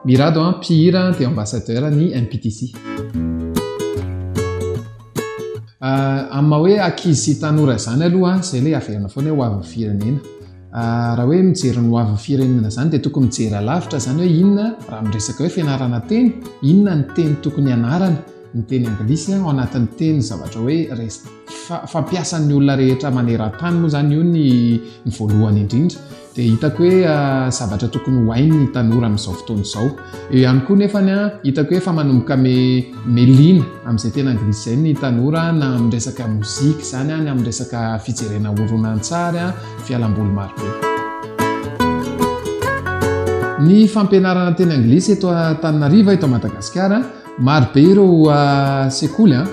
Mirado an, mpihira dia ambassadeur ny MPTC. Ah, amin'ny maha hoe akizy sy tanora izany aloha ah, izay ilay averina foana hoe hoavin'ny firenena. Ah, raha hoe mijery ny hoavin'ny firenena izany dia tokony mijery alavitra izany hoe inona raha miresaka hoe fianarana teny, inona ny teny tokony ianarana. ny teny anglisy ao anatin'ny teny zavatra hoe resp fampiasan'ny olona rehetra maneran-tany moa zany io ny ny voalohany indrindra dia hitako hoe ah, zavatra tokony ho hain'ny tanora amin'izao fotoana izao eo ihany koa nefany a ah, hitako hoe efa manomboka me melina amin'izay tena anglisy izay ny tanora na amin'ny resaka mozika izany a ah, ny amin'ny resaka fijerena horonantsary a fialamboly marobe ny fampianarana teny anglisy eto tanynariva eto madagasikara Maro be ireo sekoly an,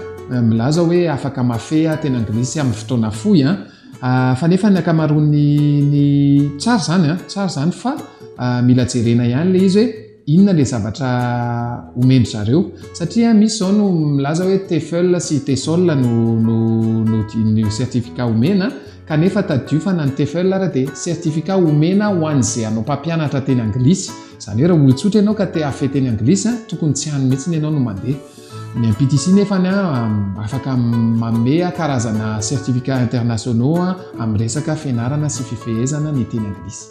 milaza hoe afaka mafeha teny anglisy amin'ny fotoana fohy an, fa nefa ny ankamaroan'ny ny tsara izany an, tsara izany fa mila jerena ihany ilay izy hoe inona ilay zavatra omen-dry zareo satria misy izao no milaza hoe TEFL sy TESOL no no no certificat omena Kanefa tadidio fa na ny TEFL ary dia certificat omena ho an'izay hanao mpampianatra teny anglisy. Izany hoe raha olon-tsotra ianao ka te hafe teny anglisy, tokony tsy any mihitsy ianao no mandeha. Ny MPTC nefa afaka manome karazana certificats internationaux amin'ny resaka fianarana sy fifehezana ny teny anglisy.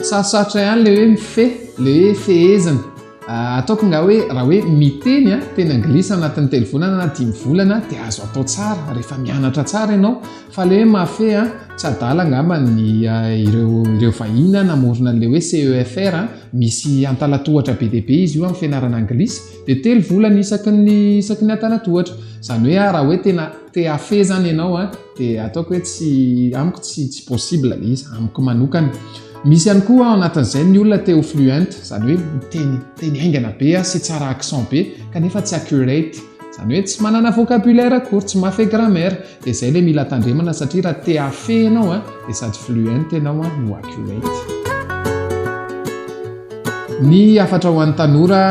Sarosarotra ihany ilay hoe mifehy, ilay hoe fehezina. Ataoko nga hoe raha hoe miteny teny anglisy anatin'ny telo volana na dimy volana dia azo atao tsara rehefa mianatra tsara ianao fa le hoe mafe a tsy adala angamba ny ireo ireo vahiny a namorona an'le hoe CEFR a misy antalatohatra be dia be izy io amin'ny fianarana anglisy dia telo volana isaky ny isaky ny antalatohatra izany hoe raha hoe tena te hafe zany ianao a dia ataoko hoe tsy amiko tsy tsy possible le izy amiko manokana misy ihany koa ao anatin'izay ny olona te ho fluent zany hoe miteny teny haingana be sy tsara accent be kanefa tsy accurate zany hoe tsy manana vocabulaire akory tsy mafe grammaire dia zay le mila tandremana satria raha te afe ianao a dia sady fluent ianao a no accurate ny hafatra ho an'ny tanora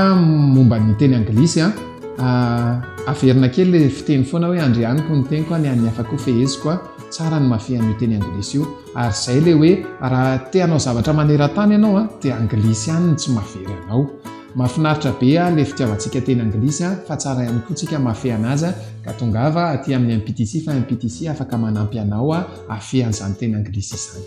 momba ny teny anglisy a Ah, averina kely le fiteny foana hoe andrianiko ny teniko any an'ny hafa koa feheziko a, tsara ny mafy an'io teny anglisy io, ary zay le hoe raha te hanao zavatra maneran-tany ianao a, de anglisy ihany no tsy mahavery anao. Mahafinaritra be ah le fitiavantsika teny anglisy a, fa tsara ihany koa tsika mafy anazy a, ka tongava aty amin'ny MPTC fa MPTC afaka manampy anao a, afehan'izany teny anglisy izany.